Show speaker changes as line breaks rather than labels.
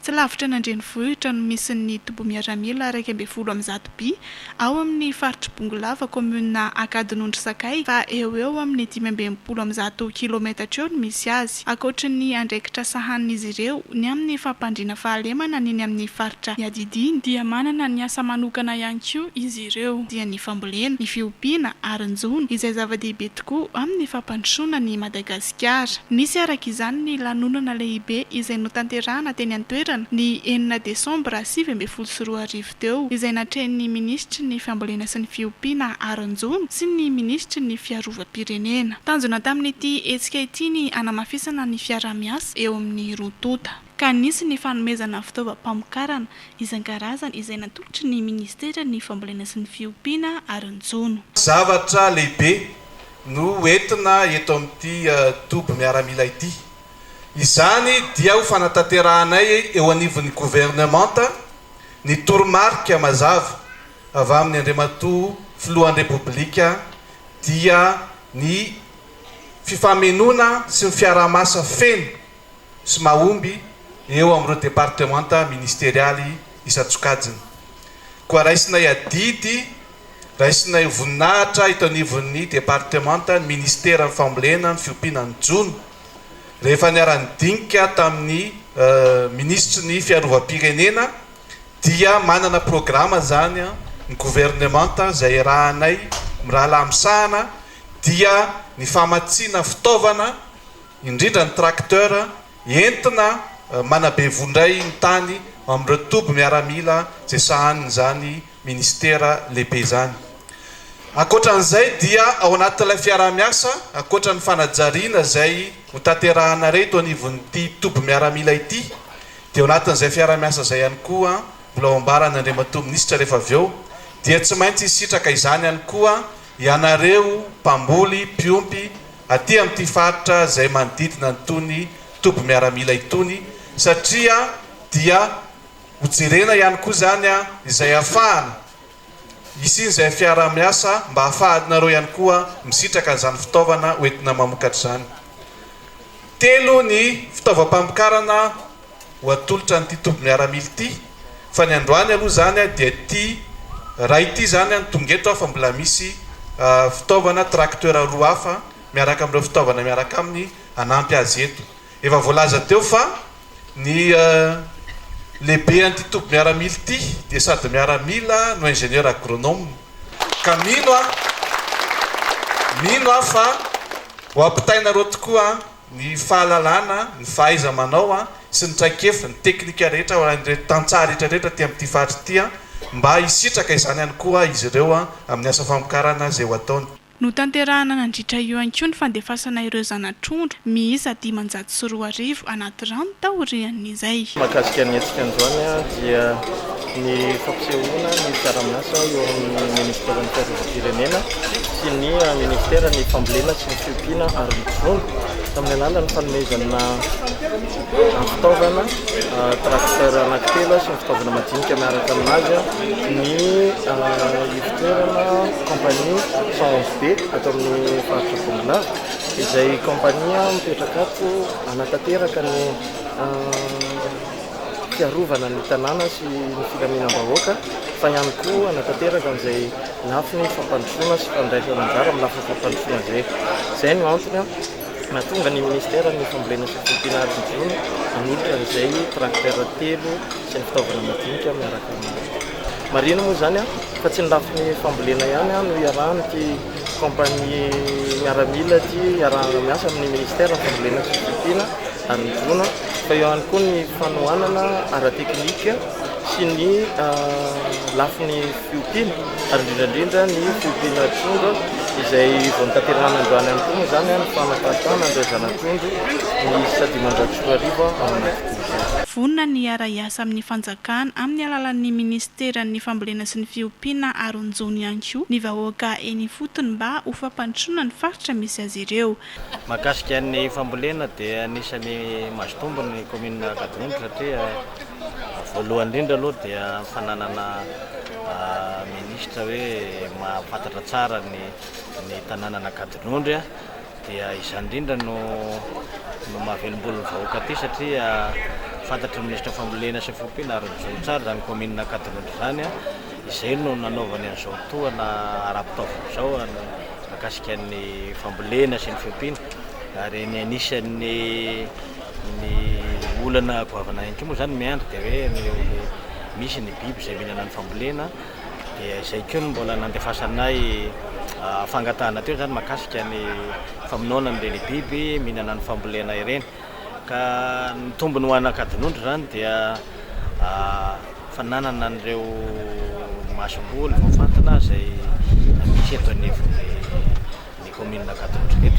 Tsy lavitra an'Andrenivohitra no misy ny toby miaramila iraika ambin'ny folo amin'ny zato bi, ao amin'ny faritr'i Bongolava, kaominina Ankadinondry Sakay, fa eo ho eo amin'ny dimy amby enimpolo amin'ny zato kilaometatra eo no misy azy. Ankoatry ny andraikitra sahanin'izy ireo ny amin'ny fampandriana fahalemana ny eny amin'ny faritra iadidiany, dia manana ny asa manokana ihany koa izy ireo, dia ny fambolena, ny fiompiana ary ny jono, izay zava-dehibe tokoa amin'ny fampandrosoana an'i Madagasikara. Madagasikara. Nisy araka izany ny lanonana lehibe izay notanterahana teny an-toerana ny enina desambra sivy ambin'ny folo sy roa arivo teo, izay natrehin'ny minisitry ny Fambolena sy ny Fiompiana Haranjono sy ny minisitry ny Fiarovam-pirenena. Tanjona tamin'ity hetsika ity ny hanamafisana ny fiaraha-miasa eo amin'ny roa tonta. ka nisy ny fanomezana fitaovam-pamokarana isan-karazany izay natolotry ny Ministeran'ny Fambolena sy ny Fiompiana ary ny Jono. Zavatra lehibe
no ho entina eto amin'ity toby miaramila ity. Izany dia ho fanatanterahanay eo anivon'ny Governemanta ny toromarika mazava avy amin'ny Andriamatoa Filohan'ny Repoblika dia ny fifamenoana sy ny fiaraha-masa feno sy mahomby eo amin'ireo departemanta ministerialy isan-tsokajiny. Koa raisinay adidy, raisinay voninahitra eto anivon'ny departemanta ny Ministeran'ny Fambolena, ny Fiompiana, ny Jono, rehefa niara-nidinika tamin'ny Minisitry ny Fiarovam-pirenena dia manana programa izany ny governemanta izay iarahanay mirahalahy misahana dia ny famatsiana fitaovana indrindra ny tracteur entina manabe vondray ny tany amin'ireo toby miaramila izay sahanin'izany minisitera lehibe izany. Ankoatra an'izay dia ao anatin'ilay fiaraha-miasa, ankoatra ny fanajariana izay hotanterahana irery eto anivon'ity toby miaramila ity dia ao anatin'izay fiaraha-miasa izay ihany koa mbola ho ambaran' Andriamatoa Minisitra rehefa avy eo dia tsy maintsy hisitraka izany ihany koa ianareo mpamboly, mpiompy, aty amin'ity faritra izay manodidina an'itony toby miaramila itony satria dia ho jerena ihany koa izany izay hafahana hisian'izay fiaraha-miasa mba hafahanareo ihany koa misitraka an'izany fitaovana hoentina mamokatra izany. Telo ny fitaovam-pamokarana ho atolotra an'ity toby miaramila ity fa ny androany aloha izany dia ity iray ity izany no tonga eto fa mbola misy fitaovana tracteur roa hafa miaraka amin'ireo fitaovana miaraka aminy hanampy azy eto. Efa voalaza teo fa ny lehibean'ity toby miaramila ity dia sady miaramila no ingénieur agronome ka mino aho mino aho fa ho ampitainareo tokoa ny fahalalana, ny fahaiza-manao sy ny traikefa, ny teknika rehetra ho an'ireto tantsaha rehetra rehetra aty amin'ity faritra ity mba hisitraka izany ihany koa izy ireo amin'ny asa famokarana izay ho ataony. Notanterahina
nandritra io ihany koa ny fandefasana ireo zana-trondro miisa dimanjato sy roa arivo anaty rano taorian'ny. izay. Mahakasika ny hetsika
androany dia ny fampisehoana ny fiaraha-miasa eo amin'ny ministeran'ny fiarovam-pirenena sy ny ministeran'ny fambolena sy ny fiompiana ary ny mpivono tamin'ny alalan'ny fanomezana fitaovana tracteur anankitelo sy ny fitaovana madinika miaraka aminazy ny ivotoerana compagnie 111 be ato amin'ny faritra Bongolava izay compagnie mipetraka ato anatanteraka ny fiarovana ny tanàna sy ny filaminam-bahoaka fa ihany koa hanatanteraka an'izay lafiny fampandrosoana sy fandraisana anjara amin'ny lafiny fampandrosoana izay. Izay no antony nahatonga ny minisiteran'ny Fambolena sy Fiompiana ary ny Vono nanolotra an'izay tracteur telo sy ny fitaovana madinika miaraka amin'ireo. Marihina moa izany fa tsy ny lafiny fambolena ihany no iarahan'ity kaompania miaramila ity iarahana miasa amin'ny minisiteran'ny Fambolena sy Fiompiana Arongona fa eo ihany koa ny fanohanana ara-teknika sy ny lafiny fiompiana ary indrindra indrindra ny fiompiana trondro izay vao notanterahana androany ihany koa moa izany ny fanaparitahana an'ireo zanak'ondry miisa dimanjato sy roa arivo ao anaty doza. Vonona ny
hiara-hiasa amin'ny fanjakana amin'ny alalan'ny minisiteran'ny fambolena sy ny fiompiana aron-jono ihany koa ny vahoaka eny ifotony mba ho fampandrosoana ny faritra misy azy ireo. Mahakasika ny
fambolena dia anisany mazotombo ny commune Ankadimby satria voalohany indrindra aloha dia fananana ministre hoe mahafantatra tsara ny tananana Ankadinondry dia izany indrindra no mahavelombolo ny vahoaka aty satria fantatry
ny ministre fambolena sy fiompiana ary mijoro tsara izany commune Ankadinondry izany izay no nanaovany an'izao tohana ara-pitaovana izao Mahakasika ny fambolena sy ny fiompiana ary ny anisan'ny ny olana goavana ihany koa moa izany miandry dia hoe ny misy ny biby izay mihinana ny fambolena dia izay koa no mbola nandefasanay fangatahana teo izany mahakasika ny famonoana an'ireny biby mihinana ny fambolena ireny. Ka ny tombony ho an'Ankadinondry izany dia fananana an'ireo masomboly voafantina izay misy eto anivon'ny ny kaominina Ankadinondry rehetra.